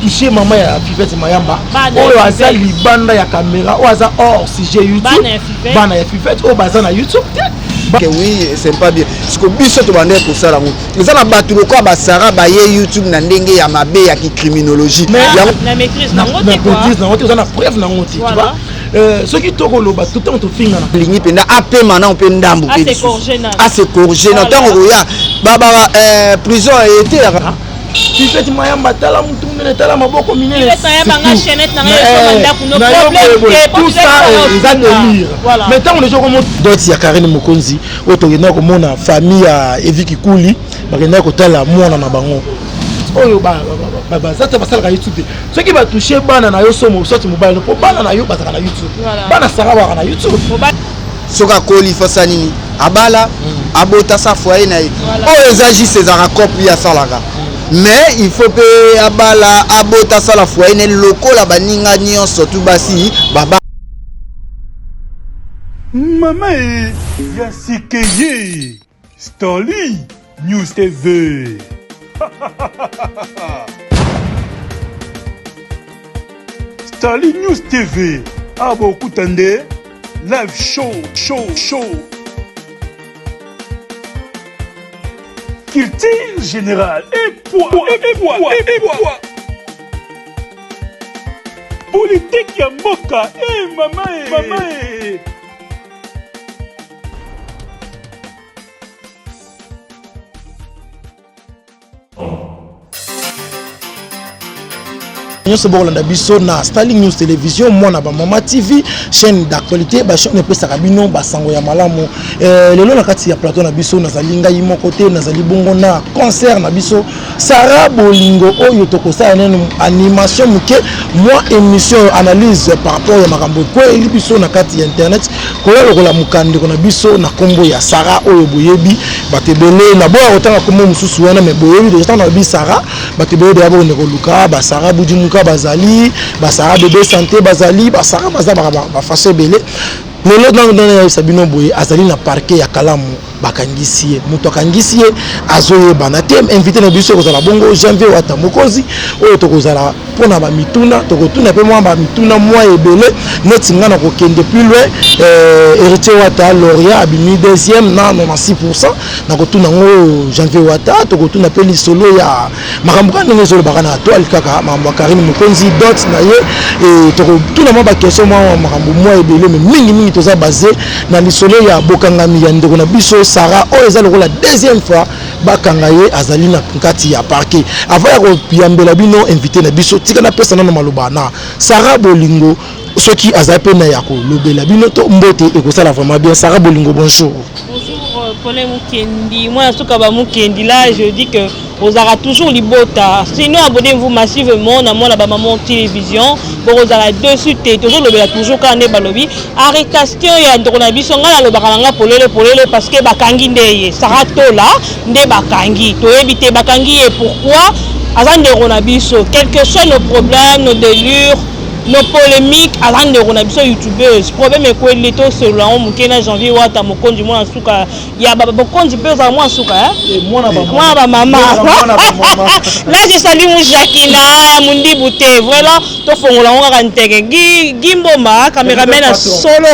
touche mama ya fivete mayamba oyo aza libanda ya kamera oyo aza hors sujet youtube bana ya fivete oyo baza na youtube te oui c'est pas bien siko biso tobanda kosala yango eza na bato lokola basara baye youtube na ndenge ya mabe ya kicriminologie maîtrise nango te oza na preuve nango te Euh, soki tokoloba tout ntango tofingana lingi mpenza apema nao mpe ndambo mpe ase corge na ntango okoya prison eteyaka Fifette Mayamba tala mutu munene tala maboko minene tout ça eza delire mais ntango deja okomo dot ya Karine Mokonzi oyo tokendaki komona famille ya Evi Kikuli bakendaki kotala mwana na bango oyo bazata basalaka youtube te soki batouche bana na yo somo soit mobali mpo bana na yo bazalaka na youtube bana sara baka na youtube soki akoli fo asala nini abala abota sa foye na ye oyo eza juste ezalaka cope ye asalaka mais il faut mpe abala abota asala foye na ye lokola baninga nyonso tu basi baba mama e ya sika ye Starly News TV. Starly News TV. Abo ah, kutande live show show show. Culture générale et poids et poids et poids. Politique ya mboka et eh, mama et eh, mama et eh. nyonso bokolanda biso na starling news télévision mwana bamama tv chaîne d'actualité bachaîne epesaka bino basango ya malamu eh, lelo na kati ya plateau na biso nazali ngai moko te nazali bongo na concert na biso Sarah bolingo oyo tokosala neno animation moke mwa émission oyo analyse par rapport ya makambo ekweli biso na kati ya internet koya lokola mokandeko na biso na nkombo ya Sarah oyo boyebi bato ebele na boya kotanga nkombo mosusu wana me boyebi deja ntango nalobi Sarah bato ebele deja bokende koluka basara budimuka bazali basara bebe sante bazali basara baza bafaso ebele lelo ntango ntango nayebisa bino boye azali na parke ya kalamu bakangisi ye moto akangisi ye azoyebana te invité na biso ekozala bongo janvier wata mokozi oyo tokozala mpo na bamituna tokotuna mpe mwa bamituna mwa ebele neti ngai na kokende plus loin eh, héritier wata loria abimi deuxième nano na 6 pourcent nakotuna yango janvier wata tokotuna mpe lisolo ya makambo kaka ndenge ezolobaka na toile kaka makambo ya karine mokonzi dot na ye e, tokotuna mwa bakestion mwa makambo mwa ebele me mingimingi toza base na lisolo ya bokangami ya ndeko na biso sara oyo eza lokola deuxième fois bakanga ye azali na kati ya parke avant ya koyambela bino invité na biso tika napesa nano maloba na sara bolingo soki aza pena ya kolobela bino to mbote ekosala vraiment bien sara bolingo bonjour pole mukendi mwana suka ba mukendi là je dis que ozalaka toujours libota sinon abonnez-vous massivement na mwana bamaman télévision bokozala dessus te tozolobela toujours kaka nde balobi arrestation ya ndoko na biso ngai nalobaka na ngai polele polele parce que bakangi nde ye sara tola nde bakangi toyebi te bakangi ye pourquoi aza ndeko na biso quelque soit nos problèmes nos délures No polemique aza ndeko na biso youtubeuse problème ekweli le tosolola yango moke na janvier wata mokonzi mwana suka ya bokonzi mpe ozala mwana suka eh, mwana bamama là je salue mu jacquina ya mondibu te vraiment tofongola yango kaka nteke gimbomba cameraman ya solo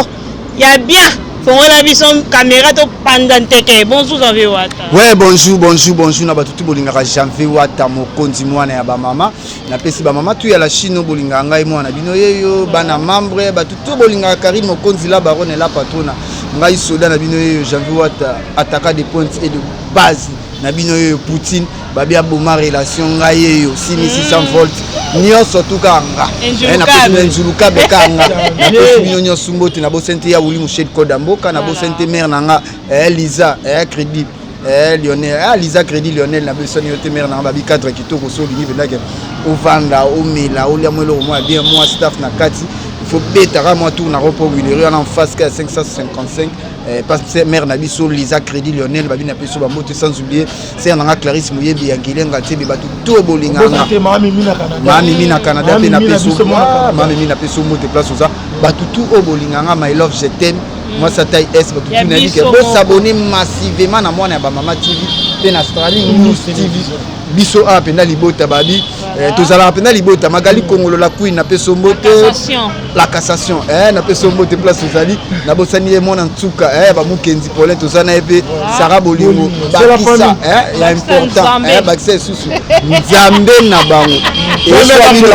ya bien fongola biso kamera topanza nteke bonjour janvier wata we bonjour bonjour bonjour na bato tu bolingaka janvier wata mokonzi mwana ya bamama napesi bamama tu ya la chine oyo bolingaka ngai mwana na bino yeyo bana membre bato to bolingaka karine mokonzi la barone la patrona ngai soda na bino yeyo janvi wata ataka de pointe et de base na bino yeyo poutine babi aboma relation ngai yeyo simi 600 volt nyonso tu kaka nga Eh, napesi bino nzulukabe kaka nga napesi bino nyonso mbote nabosani te ya wuli moshedi koda mboka nabosani te mare na nga eh, liza eh, crédit Eh, Lionel ah, Lisa Crédit Lionel na biso ni yote mère na babi cadre kitoko so lingi penda ke ovanda omela olia mwelo au moins bien moi staff na kati il faut beta ka moi tour na repo Willery en face ka 555 eh, parce que mère na biso Lisa Crédit Lionel babi na biso ba moto sans oublier c'est na Clarisse Muyebi ya Gilenga tebe batu to bolinga na mami mina Canada mami mina Canada pe na biso mami mina biso moto place oza batu tout o bolinga nga my love je t'aime mwasi atai es bato tunalike bosabone massivement na mwana ya bamama tv mpe na strali news tv biso awa mpenza libota babi eh, tozalaka mpenza libota magali kongolo la queen na peso mbote la cassation eh, na peso mbote place tozali nabosani ye mwana nsuka eh, bamukenzi polin toza na ye mpe sara bolingo bakisa eh, ya important eh, bakisa esusu nzambe na bango eswa bino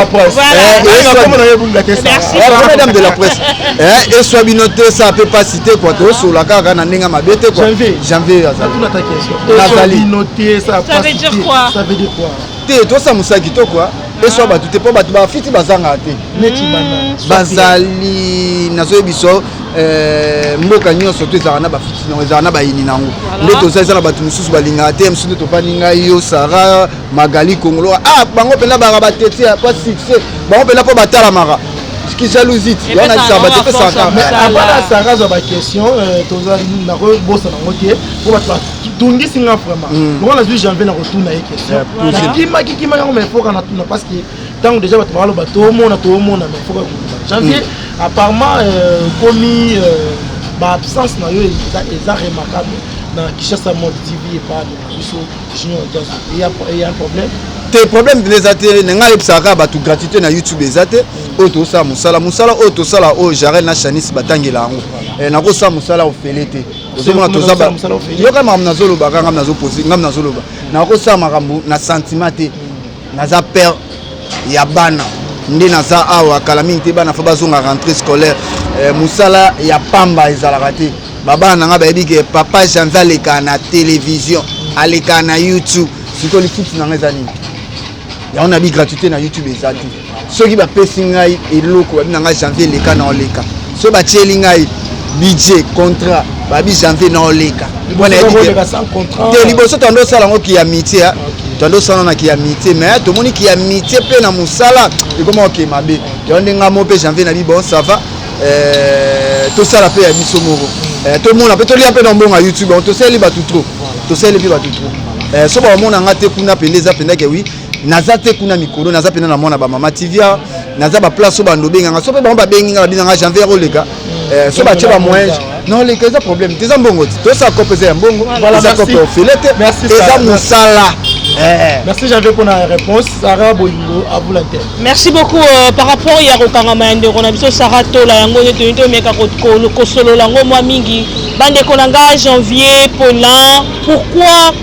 eswa bino te sa pe pasi te kua tosola kaka na ndenge mabe te kua janvier azali te tosa mosala kitoko eswa ah. bato te mpo bato bafiti bazangaka te hmm, bazali nazoyebiso Euh, mboka nyonso to ezalaka na bafuti nango ezalaka na bayini na yango nde toza eza na bato mosusu balingaka te mosusu nde tofandi ngai yo sara magali kongolo ah bango mpenza baka batete mpo succès bango mpenza mpo batalamaka kijaluziti wana lisamba te pesaka apana sara azwa baquestion euh, toza nakobosa nango te mpo bato batungisi nga vraiment mm. lokola nazwi janvier nakotuna ye question nakimaki kimaki yango maifoka natuna parce que ntango deja bato bakaloba toomona toomona mais foka koluka janvier mm. apparemment euh, komi euh, baabsence na yo eza remarquable na kishasa mol tv epaale na biso junior jaso eya problème te problème mpena eza te na ngai ayebisaka kaka bato gratuité na youtube eza te mm. oyo tosala mosala mosala oyo tosala oyo jarel na chanis batangela yango eh, nakosala mosala ofele te ozomona toza yoka makambo nazolobaka ngam nazopose ngam nazoloba mm. nakosala makambo na sentiment te mm. naza père ya bana nde naza awa kala mingi te bana fa bazonga rentrée scolaire eh, mosala ya pamba ezalaka te babana na ngai bayebi ke papa janvi aleka na télévision aleka na youtube sikoyo lifuti na ngai eza nini yango nabi gratuité na youtube eza te soki bapesi ngai eloko babi na ngai janvier eleka na oleka soki batieli ngai budget contrat babi janvier na oleka te liboso tanda osala yango kiyamiti ya tanda osala na kiyamiti me tomoni kiyamiti mpe na mosala ekoma oke mabe yango nde ngai mo mpe janvier na bi bon sava eh, tosala mpe ya biso moko eh, tomona mpe tolia mpe na mbongo ya youtube yango tosaleli bato trop tosaleli mpe bato trop eh, so bamona ngai te kuna mpenza eza mpenza ke wi naza te kuna mikolo naza mpena na mwana bamama tivia naza baplace oyo bando obenganga so mpe bango babengi nga babinanga janvier oleka mm. eh, so batye bamoyen noleka eza problème te eza mbongo te tosa cope eza ya mbongo eza cope ya ofele te eza mosala eh. merci janvier mpona réponse sara bolingo abula te merci beaucoup euh, par rapport ya kokangama ya ndeko na biso sara tola yango nde toyini tomeka kosolola yango mwa mingi bandeko na ngai janvier polin pourquoi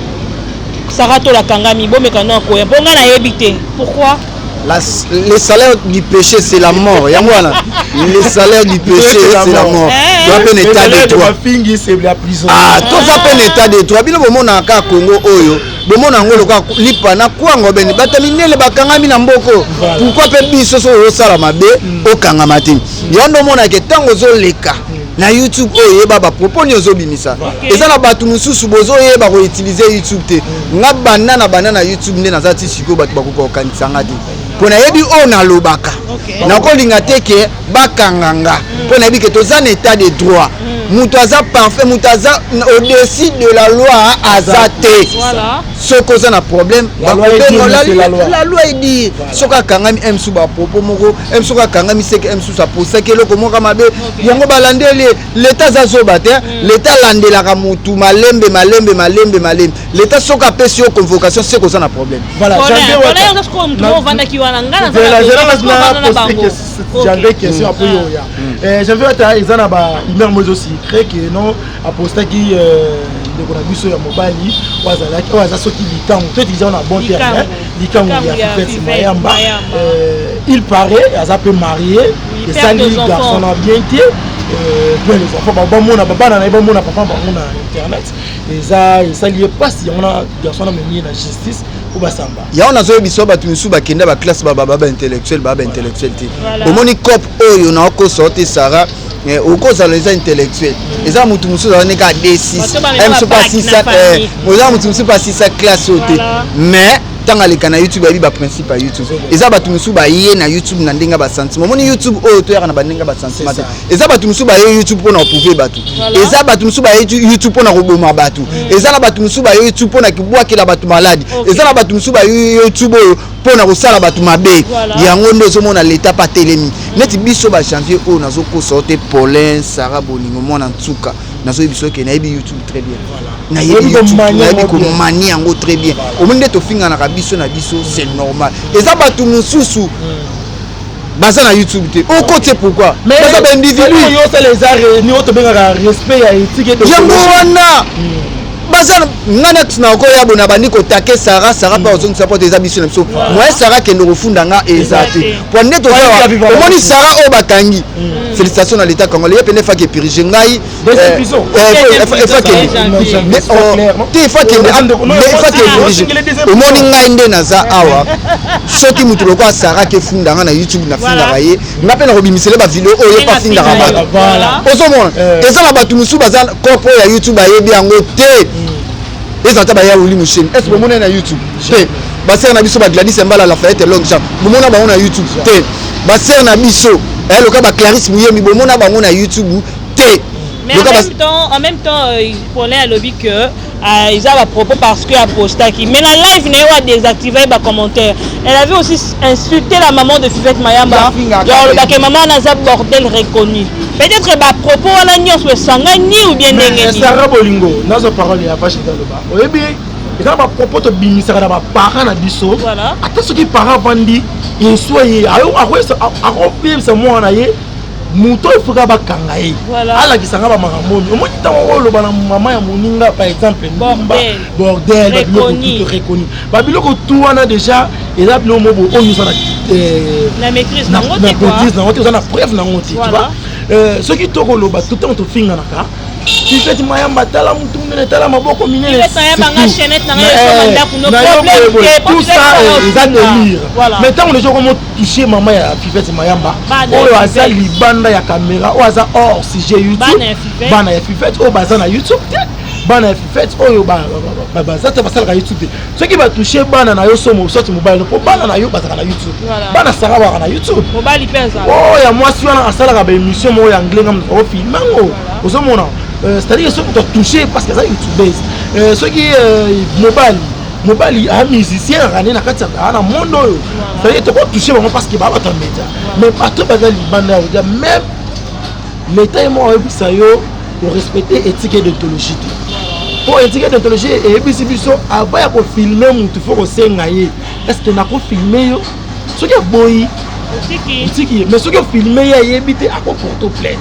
Sarah Tola Kangami, bomeka na koya mpo ngai nayebi te pourquoi la, le salaire du péché c'est la mort yango wana le salaire du péché c'est la mort eh. toza mpe na état de droit ah, toza mpe na état de droit bino bomonaka kaka congo oyo bomona yango lokola lipa na kwango bene bato minene bakangami na mboko pourkui mpe biso soki ozosala mabe mm. okangama te yango nde omonake ntango ozoleka na youtube oyo oyeba bapropos nini ozobimisa okay. eza na bato mosusu bozoyeba koutilize youtube te nga banda na banda na youtube nde naza ti sikoyo bato bakoka kokanisa nga te mpo nayebi oyo nalobaka okay. nakolinga te ke bakanga nga mpo mm. nayebi ke toza na état de droit mm. moto aza parfait moto aza au-dessus de la loi aza te voilà. soki oza na problème bakobengola la loi edi soki akangami msu bapropos moko eme soki akangami seke eme susu aposaki eloko moka mabe yango balandeli leta aza zoba te mm. leta alandelaka motu malembe malembe malembe malembe leta soki apesi yo convocation seke oza na problème j'avais question apo yo oya j'avais ata eza na ba humeur mo ezo secret ke non apostaki euh, ndeko na biso ya mobali oyo azalaki oyo aza soki likango to eza na bon terme likangu ya fifete mayamba euh, il paraît aza mpe marie esali garçon na bien te euh, mpe les enfants bamona babana na ye bamona papa bango na internet eza esali ye mpasi yango na garçon na memi ye na justice mpo basamba yango nazoyebisa bato mosusu bakenda baklasse baba baba intellectuel baba intellectuel te omoni cope oyo naokosa te sara Eh, okozala eza intellectuel eza motu mosusu azala ndenge adesisa oza motu mosusu basisa classe oyo te mais ntango aleka na youtube ayebi baprincipe ya youtube eza bato mosusu baye na youtube na ndenge ya basentiment omoni youtube oyo toyaka na bandenge ya basentiment te eza bato mosusu baye youtube mpo na koprouve bato eza bato mosusu baye youtube mpo na koboma bato hmm. eza na bato mosusu baye youtube mpo na kobwakela bato maladi eza na bato mosusu baye youtube oyo mpo na kosala bato mabe yango nde ozomona leta mpe atelemi neti biso ba janvier oyo nazokosa yo te paulin sara bolingo mwana nsuka nazoyebi biso ke nayebi youtube très bien nayebi komani yango très bien omoni nde tofinganaka biso na biso c'est normal eza bato mosusu hmm. baza na youtube te okotie pourquoi baza baindividuyango wana baza nga nati na okoya bona bandi kotake sara sara mpe ozongisa mpo te eza biso na biso moye sara kende kofunda nga eza te mpo nde tozaomoni sara oyo bakangi félicitation na leta congolais ye pene faki epirige ngai deuxième eh, prison eh, te efakende omoni ngai nde naza awa soki moto lokola saraki efunda ngai na youtube nafingaka ye ngai mpe nakobimisele bavideo oyo epa afingaka bato ozomona eh. eza na bato mosusu baza corpo ya youtube ayebi yango te hmm. eza ata baya oli mosheni est ce que omona ye na youtube te basere na biso bagladis embala lafayete long jean bomona bango na youtube te basere na biso eloka baclaris muyemi bomona bango na youtube te mais en même, temps, en même temps euh, paulin alobi que euh, eza bapropos parce que apostaki mais na live na ye oyo adésactive bacommentaire elle avait aussi insulté la maman de fivette mayamba genre olobake maman wana aza bordel reconnu peut-être bapropos wana nyonso esangani ou bien ndenge esara bolingo nazo parole ya vache ezaloba oyebi eza bapropos tobimisaka na baparent na biso ata soki parent avandi eswa ye akoyebisa mwana na ye moto oyo foka bakanga ye alakisa nga bamakambo oyo omoni ntango oyo oloba na mama ya moninga par exemple mbumba bordel babiloko tuto reconi babiloko tu wana déjà eza biloko mobo oyo oza na maîtrise nango te oza na preuve nango te tuba euh, soki tokoloba tout ntango tofinganaka tifeti mayamba tala motu monene tala maboko minenenayo boye tout ça eza delire mais ntango deja okomo touche mama ya fivete mayamba oyo aza libanda ya kamera oyo aza or sujet youtube bana ya fivete oyo baza na youtube te bana ya fivete oyo baza te basalaka youtube te soki batouche bana na yo somo soki mobali no mpo bana na yo bazalaka na youtube bana sara baka na youtube oyo ya mwasi wana asalaka baémission moko ya anglais nga moto akofilme yango ozomona euh, c'est-à-dire soki moto atouche parce que aza youtubeuse euh, soki euh, mobali mobali a musicien ya rane na kati ya kaa na monde oyo cetadire toko touche bango parce que babata media mais bato baza libanda ya kodia même leta ye moko ayebisa yo orespecte etike d'ontologie te mpo etike d'ontologie eyebisi biso avant ya kofilme motu fo kosenga ye estce nakofilme yo soki aboyi otiki ye mais soki ofilme ye ayebi te akoporte plainte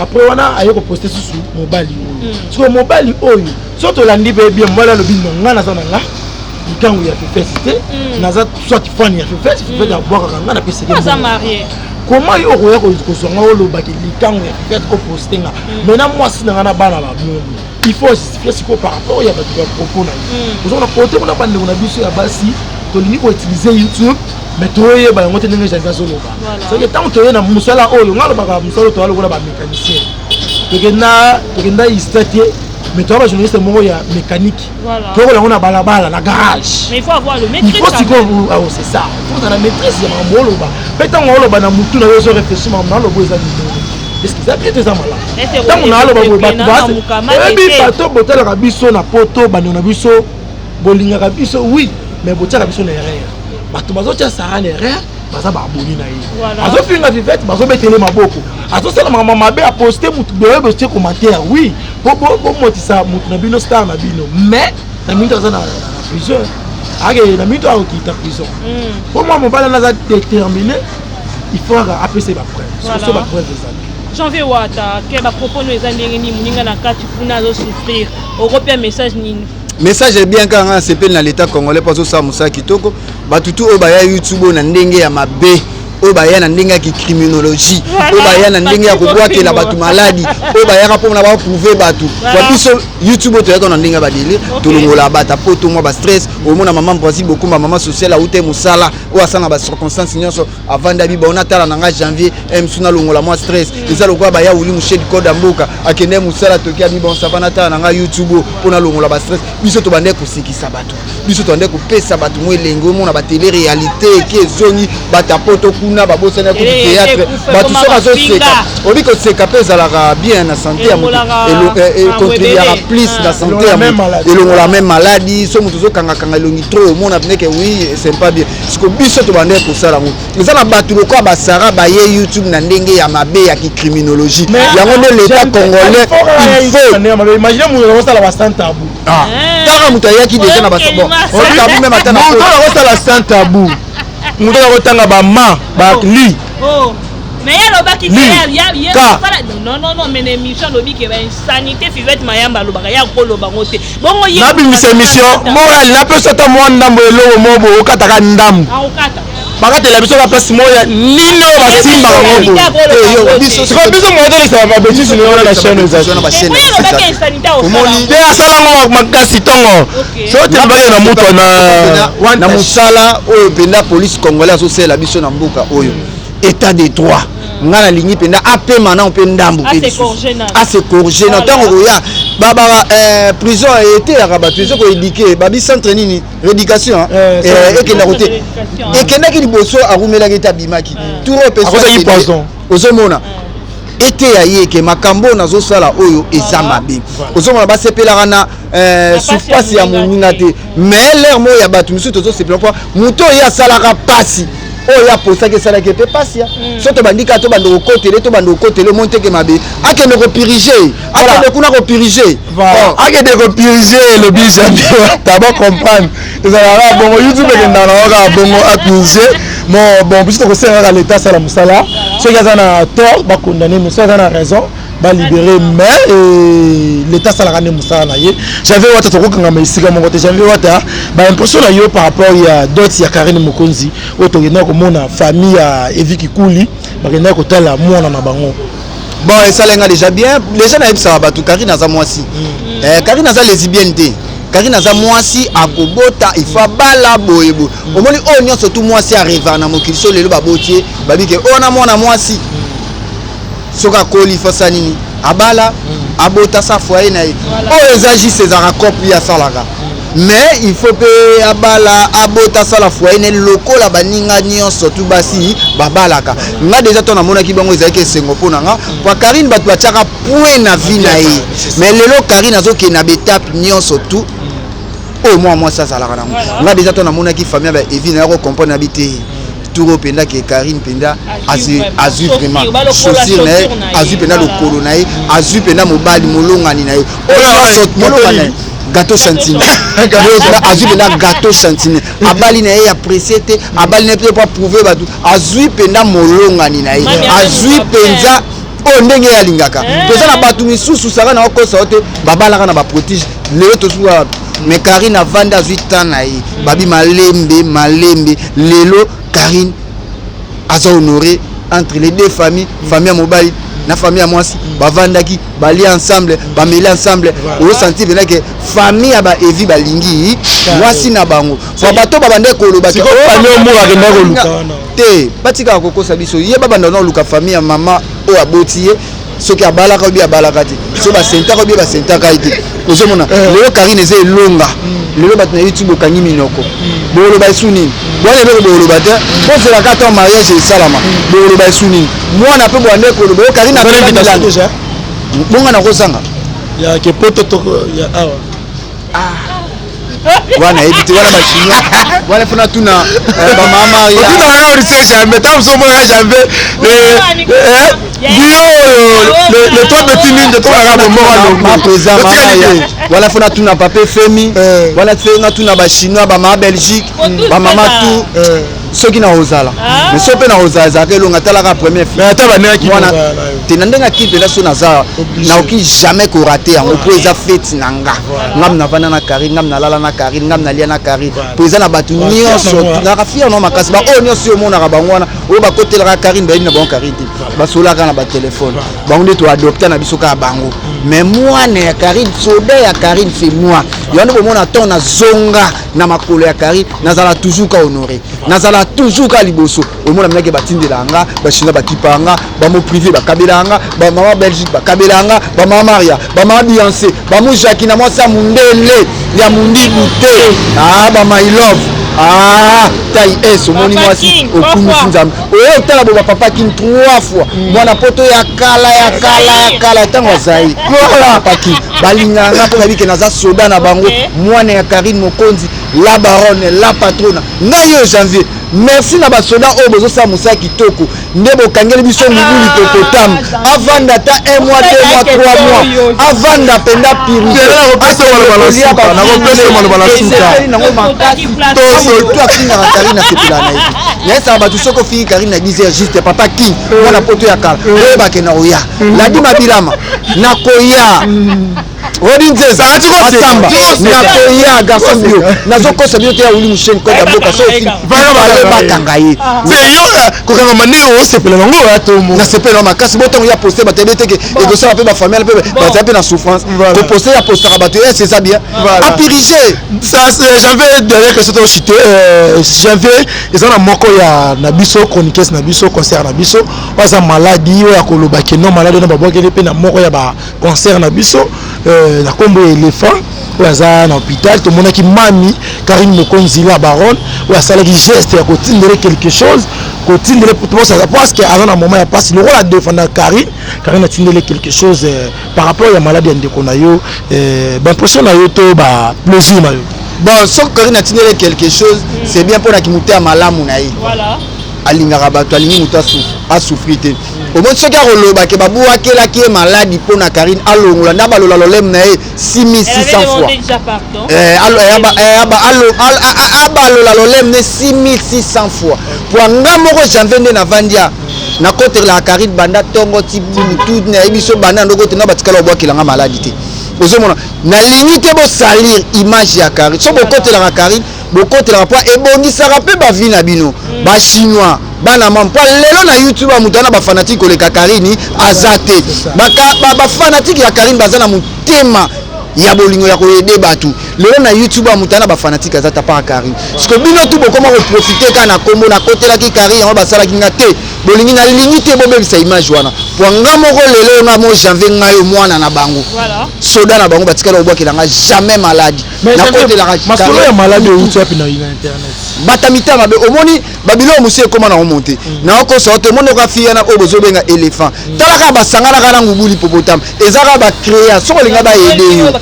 après wana aye koposte susu mobali oyo hmm. sikoyo mobali oyo so tolandi mpe bien mobali alobi no ngai naza na nga likangu ya fefesi te hmm. naza soit fan ya fefesi fefesi hmm. abwakaka ngai napeseke koma yo okoya kozwa ngai olobaki likangu ya fefesi koposte nga mai na mwasi na ngai na bana bamomi il faut justifie sikoyo par rapport ya bato ya propos na yo ozomona kote kuna bandeko na biso ya basi tolingi koutilize youtube mais toyeba yango te ndenge javi azoloba soki ntango toye na mosala oyo ngai alobaka mosala oyo toya lokola bamécanicien tokenda tokenda ista te mais toya bajournaliste moko ya mécanique toyokola yango na balabala na garage il faut sikoyo ah, oh, c'est ça faut ozala maîtrise ya makambo oloba mpe ntango oloba na motu na yo ozo réfléchir makambo na oloba eza nini eza bien te eza malamu ntango naaloba boye bato oyebi bato botalaka biso na poto bando na biso bolingaka biso oui mais botiaka biso na erreur bato bazotya sara na erreur baza baabone na ye azofinga vivete bazobetele maboko azosala makambo mabe aposte motu boye botie commentaire oui bomotisa motu na bino star na bino mais na mingi aza na prison akende na mito akokita prison mpo mm. mwa mobali wana aza déterminé il faut aka apesa ye bapreuve soso bapreuve ezali janvier wata ke bapropos no eza ndenge nini moninga na kati kuna azosouffrir okopia message nini message ya bien kaka ngai nasepeli na leta congolais mpo azosala mosala kitoko bato tu oyo baya youtube oyo na ndenge ya mabe oyo baya na ndenge ya kicriminologie oyo baya na ndenge ya kobwakela bato maladi oyo bayaka mpo na baprouve bato kwa biso youtube oyo toyaka na ndenge ya badele tolongola bata mpo tomwa bastress omona mama mpasi bokumba mama sociale aute mosala oyo asanga bacirconstance nyonso avanda biba ona tala na nga janvier msu nalongola mwa stress mm. eza lokola baya wili mushedi koda mboka akende mosala toki ya biba onsava natala na nga youtube oyo mpo nalongola bastress biso tobandai kosekisa bato biso tobandai kopesa bato mwa elengi omona batele réalité eki ezongi batapoto kuna babosani ya kutu théâtre bato so bazoseka obi koseka mpe ezalaka bien na sante ya moto econtribuaka eh, eh, plus na ah. sante ya moto elongola meme maladi so moto ozokangakanga elongi trop omona pineke oui c'est pas bien siko biso tobandaki kosala yango eza na bato lokola basara baye youtube na ndenge ya mabe ya kicriminologie yango nde leta congolais ah. eh. kaka moto ayaki deja na bato tabu meme ata nakosala sans tabu moto akotanga bama bali mais ye alobaki non non non mais na émission alobi ke ba insanité fivette mayamba alobaka ye akoloba ngo te nabimisa emission moral napesa ata mwa ndambo ya eloko moko boye okataka ndambo bakatela biso na place moko ya nini oyo basimbaka ngo boyesikoyo biso moya tolekisaka babetise nayo na chaine ezaliomoni nde asala ngo makasi ntongo soki tembaki na moto na mosala oyo mpenza polise congolais azosalela biso na mboka oyo état de droit nga nalingi mpenza apema nao mpe ndambu mpe lisusu asecorge na ntango koya baba eh, prison eteyaka bato ezo koedike babi centre nini rédication eh, eh, ekenda kote ekendaki liboso akumelaki ete abimaki trop ozomona eteya ye ke makambo oyo nazosala oyo eza mabe ozomona basepelaka na sufasi ya moninga te mais lere moko ya bato mosusu tozosepela mpo moto oyo ye asalaka mpasi oyo aposaki esalaki mpe pasi ya mm. so tobandi kaka tobanda kokotele tobanda kokotele omoni teke mabe akende kopirige akende kuna kopirige oh. akende kopirige elobi jambi taba comprendre ezalaka kaka bongo youtube ekendaka nango kaka bongo apirige mo bon biso tokosenga kaka leta asala mosala soki aza na tort bakondane me soki aza na raison ba libere mais euh, leta asalaka nde mosala na ye janvier wata tokokangama esika moko te janvier wata baimpression na yo par rapport ya dot ya karine mokonzi oyo tokendaki komona famille ya evi kikuli bakendaki kotala mwana na bango bon esala nga déjà bien déjà nayebisaka bato karine aza mwasi mm. eh, karine aza lesibienne te karine aza mwasi akobota il faut abala boye boye mm. omoni oyo oh, nyonso tu mwasi areva na mokili so lelo baboti ye babike oyo oh, na mwana mwasi mm. soki akoli fo asala nini abala abota sa foye na ye oyo eza juste ezalaka cope ye asalaka mais il faut mpe abala abota asala foye na ye lokola baninga nyonso tu basi babalaka nga deja to namonaki bango ezalaki esengo mpo na nga mpo karine bato batiaka point na vie na ye mais lelo karine azokende na baetape nyonso tu oyo mwana mwasi azalaka nango nga deja to namonaki famille ya baevi na ya kocomprendre na bi te tour oyo mpenza ke karine mpenza azwi vraiment chaussure na ye azwi mpenza lokolo na ye azwi mpenza mobali molongani na ye oyo molongani na ye gato santine azwi mpenza gato santine abali na ye ya presse te abali na ye mpe mpo aprouve bato azwi mpenza molongani na ye azwi mpenza oyo ndenge ye alingaka mpenza eh. na bato misusu saka na okosa yo te babalaka na baprotige lelo tosuki wapi mais karine avandi azwi temps na ye babi malembe malembe lelo karine aza honore entre les deux familles famille ya mobali na famille ya mwasi bavandaki balia ensemble bameli ensemble osanti pena ke famille ya baevi balingi mwasi na bango po bato babandaki koloba te batikaka kokosa biso ye babanda na oluka famille ya mama oyo aboti ye soki abalaka obi abalaka te soki basentaka obi basentaka ye te ozomona eh. lelo karine eza elonga hmm. lelo bato na youtube okangi minoko hmm. boloba esu nini bwana eloko boloba te bozelaka ata mariage esalama hmm. boloba esu nini mwana mpe bwanda ekoloba yo karine bonga nakozanga ya kepoto toko ya awa ah. wana yebi te wana bachinois wana fona tuna eh, bamamaotuna yo lise jambe ta mosusu omonaka jambe bio le toi petit mingi tolaka bomoalogotikalike wana fona tuna pape femi eh. wana fenga tuna bachinois bamama belgique bamama tout soki nakozala ah. mais soki mpe nakozala ezalaka elonga talaka premier filmwana te na ndenge akili mpenza so naza naoki jamais korate yango mpo eza feti na nga ngam navanda na carine ngam nalala na carine ngam nalia na carine mpo eza na bato nyonso naka fier no makasi baoyo nyonso yo omonaka bango wana oyo bakotelaka carine bayebi na bango carine te basolaka na batelefone bango nde toadopta na biso kaka bango mais mwana ya carine soda ya carine c'est moi yango nde bomona ntango nazonga na makolo ya kari nazala toujours ka honore nazala toujours ka liboso omona minaki batindela nga bachinois bakipa nga bamo privé bakabela nga bamama belgique bakabela nga bamama maria bamama biance bamo jaki na mwasi ya mundele ya mundibu te ah, ba my love ah, tai es omoni mwasi okumisi nzambe oye otala boba papa kin trois fois mm. mwana poto ya kala ya kala ya kala ntango azali papa kin balinganga mpo nayebi ke naza soda na bango mwana ya karine mokonzi la baronne la patrona ngai yo janvier merci na basoda oyo bozosala mosala kitoko nde bokangeli biso mibu likokotam avanda ata un mois deux mois trois mois avanda mpenza pirisenakopesamalobala na suka tozo to afingaka karine asepela na ye nayesaka bato soki ofingi karine na bizer juste papa king mwana poto ya kala oyebake na oya ladi mabilama nakoya odi nzeza asamba nakoya garçon bio nazokosa bino te ya wili musheni koda boka soki bakanga ye kokanga manei osepela nango oya tomo nasepela na makasi bo ntango ya poste bato yabe teke ekosala mpe bafamille mpe bazala mpe na souffrance kopose ya postaka bato esi eza bien apirige Euh, janvier dernière question to cité euh, janvier eza na moko ya na biso chroniqueuse na biso concert na biso oyo aza maladi oyo akoloba ke non maladi wana babwakeli mpe na moko ya baconcert na biso euh, na nkombo ya éléphant oyo aza na hôpital tomonaki mami karine mokonzi la baronne oyo asalaki geste ya kotindele quelque chose kotindele mpo aza na moment ya mpasi lokola defanda karine karine atindele quelque chose par rapport ya maladi ya ndeko na yo eh, baimpression na yo to ba plaisir na yo bon soki karine atindele quelque chose mm. c'est bien mpo na kimutu ya malamu na ye voilà. alingaka bato alingi moto asouffri te mm. omoni soki akoloba ke babuakelaki ye maladi mpo na karine alongola nde abalola loleme na ye 6600 fois eh, eh, abalola loleme na ye 6600 fois mpo nga moko janvier nde navandi nakotelaka karine banda ntongo ti butu nayebi biso banda ndoko te nga batikala obwakela nga maladi te ozomona nalingi te bosalir image ya karine so bokotelaka karine bokotelaka mpo ebongisaka mpe bavi na bino mm. bachinois bana mama mpo lelo na youtube ya moto wana bafanatike koleka karine aza te bafanatike ya karine baza na motema ya bolingo ya koyede bato lelo na youtube amuta na bafanatike aza tapaka kari siko bino tu bokoma koprofite kaka na nkombo nakotelaki kari yango basalaki nga te bolingi nalingi te bobebisa image wana po nga moko lelo nga mo janvier nga yo mwana na bango soda na bango batikala kobwakela nga jamais maladi nakotelakamasolo ya maladi euti wapi na internet bata mitema mabe omoni babiloko mosusu ekoma na omonte mm. naokosa ote omoni oka fiyana oyo bozobenga elephant mm. talaka basanganaka na ngubu lipopotame eza kaka bacrea soki olinga bayede yo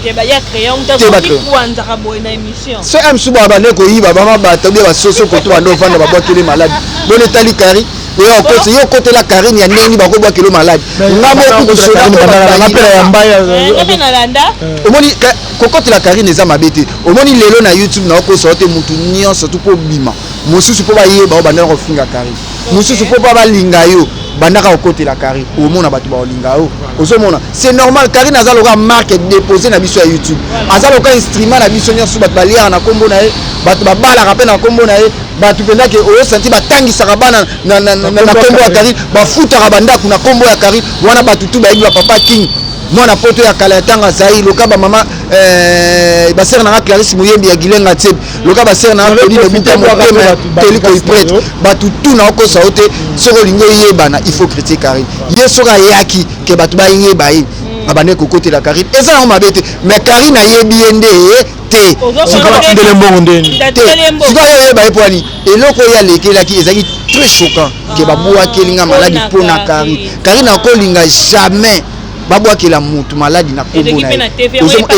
so ya mosusu baa bande koyiba bama bata bia basoso koto bande ofanda babwakeli maladi bona etali kari oya okoti yo okotela karine ya ndenge bakobwakeli yo maladi nga mokutuomoni kokotela karine eza mabe te omoni lelo na youtube naokosa yo te motu nyonso tu mpo obima mosusu mpo bayeba o bandana kofinga karine mususu po pa balinga yo bandaka kokotela carine omona bato bakolinga yo ozomona c'est normal carine aza lokola marque dépose na biso ya youtube aza lokola instrument na biso nyonso bato baliaka na nkombo na ye bato babalaka mpe na nkombo na ye bato mpenza ke osanti batangisaka bana na nkombo ya carine bafutaka bandako na nkombo ya carine wana bato tu bayebi bapapa king mwana poto ya kala ya ntango azali loka bamama eh, basere na nga clarisse moyembi ya gilenga tsebe loka basere na apedi lobuka motema ya toli koiprete bato tu na okosa yo te soki olingi oyebana il faut critique carine ye soki ayaki ke bato bayeba ye hmm. abandaki kokotela carine eza yango mabe te mais carine ayebi ye nde ye te sikondele mbongo ndeni te sikoyo oyeba ye pwani eloko oyo alekelaki ezalaki très choquant ke ah. babwakeli nga maladi mpo na carine carine akolinga jamais babwakela motu maladi na kombo na ye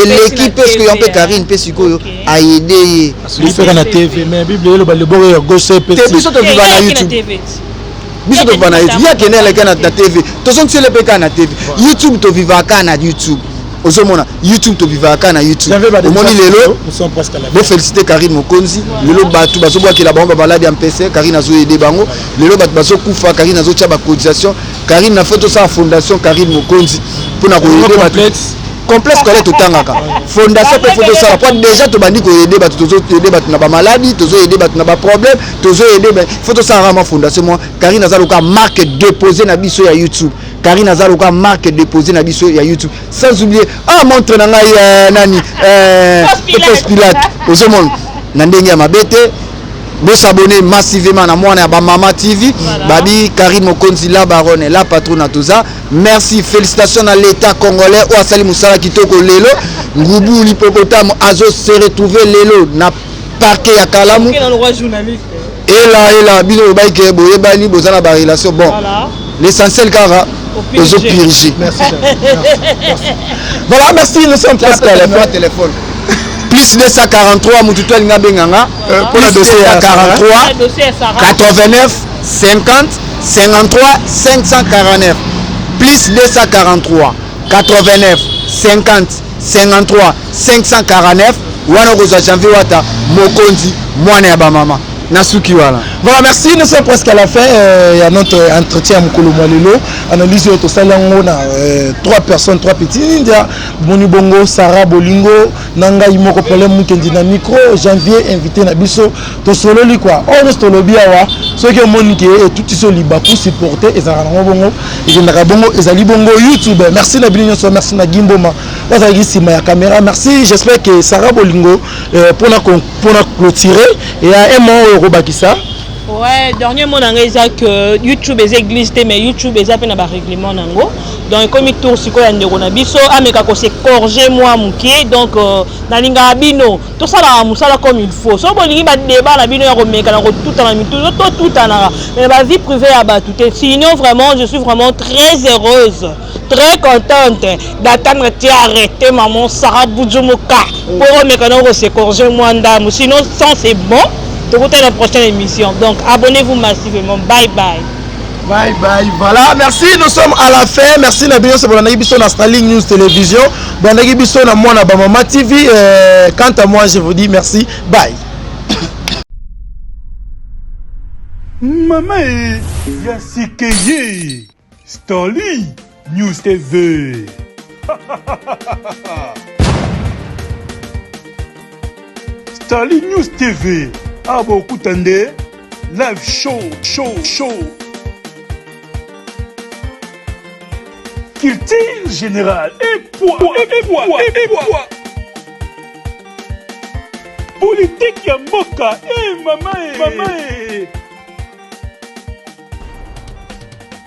eleki mpe sikoyo mpe carine mpe sikoyo ayede ye biso kaka na tv mais bible eloba liboko ya gauche epesi te biso toviva na youtube biso toviva na youtube ye akende aleka na tv tozongisele mpe kaka na tv youtube tovivaka kaka na youtube ozomona youtube tobivaka kaka na youtube omoni lelo bofélicité karine mokonzi lelo bato bazobwakela bango bamaladi ya mpese karine azoyede bango lelo bato bazokufa karine azotya bacotisation karine na fo tosala fondation karine mokonzi mpo na koyede bato complexe scolaire totangaka fondation mpe fo tosala mpo déjà tobandi koyede bato tozoyede bato na bamaladi tozoyede bato na baproblème tozoyede fo tosalaka mwa fondation mwa karine aza lokola marque déposé na biso ya youtube karine aza lokola marque déposé na biso ya youtube sans oublier ah montre na ngai euh, nani euh, pos pilate ozomona na ndenge ya mabe te bosabone massivement na mwana ya bamama tv babi karine mokonzi la baronne la patrona toza Merci, félicitations à l'État congolais oyo asali mosala kitoko lelo. Ngubu l'hippopotame azo se retrouver lelo na parquet ya Kalamu. Ela ela bino lobaki ke boyebani boza na ba relation bon. L'essentiel kaka ozo purger. Merci. Voilà, merci, nous sommes presque à la fin. téléphone. plus 243 motu to alingi abenga nga plus 243 89 50 53 549 plus 243 89 50 53 549 wana okozwa janvier wata mokonzi mwana ya bamama nasuki wana voilà merci nous sommes presque à la fin euh, ya notre entretien ya mokolo mwa lelo analyse oyo tosali yango na euh, trois personnes trois petits nindia bomoni bongo sarah bolingo na ngai moko problème mukendi na micro janvier invité na biso Tosololi quoi. Oyo nyonso tolobi awa soki omoni ke etutisi yo libaku supporte ezalaka nango bongo ekendaka bongo ezali bongo youtube merci na bino nyonso merci na gimboma bazalaki nsima ya camera merci j'espère ke sara bolingo euh, mpona mpona clôturer eya emo oyo okobakisa Ouais, dernier mot nanga eza que YouTube eza église te mais YouTube eza pe na ba règlement nango. Donc ekomi tour sikoyo ya ndeko na biso ameka ko se corriger moi mukie donc euh, nalinga bino tosalaka mosala comme il faut soki bolingi badeba na bino ya komekana kotutana mitu totutanaka mais ba vie privée ya bato te sinon vraiment je suis vraiment très heureuse très contente d'attendre ti arrête maman sara bujumuka mpo mm. omekana okosecorge mwa ndambo sinon sans c'est bon tokutana prochaine émission donc abonnez-vous massivement bye bye Bye bye. Voilà, merci. Nous sommes à la fin. Merci na bino bolandaki biso na Starling News Télévision. Bolandaki biso na mwana ba Mama TV. Euh, quant à moi, je vous dis merci. Bye. Mama, ya sikeye. Starling. News TV. Starly News TV. Awa bokuta nde live show show show. Culture générale et poids et poids et poids. Politique ya mboka eh mama eh mama eh.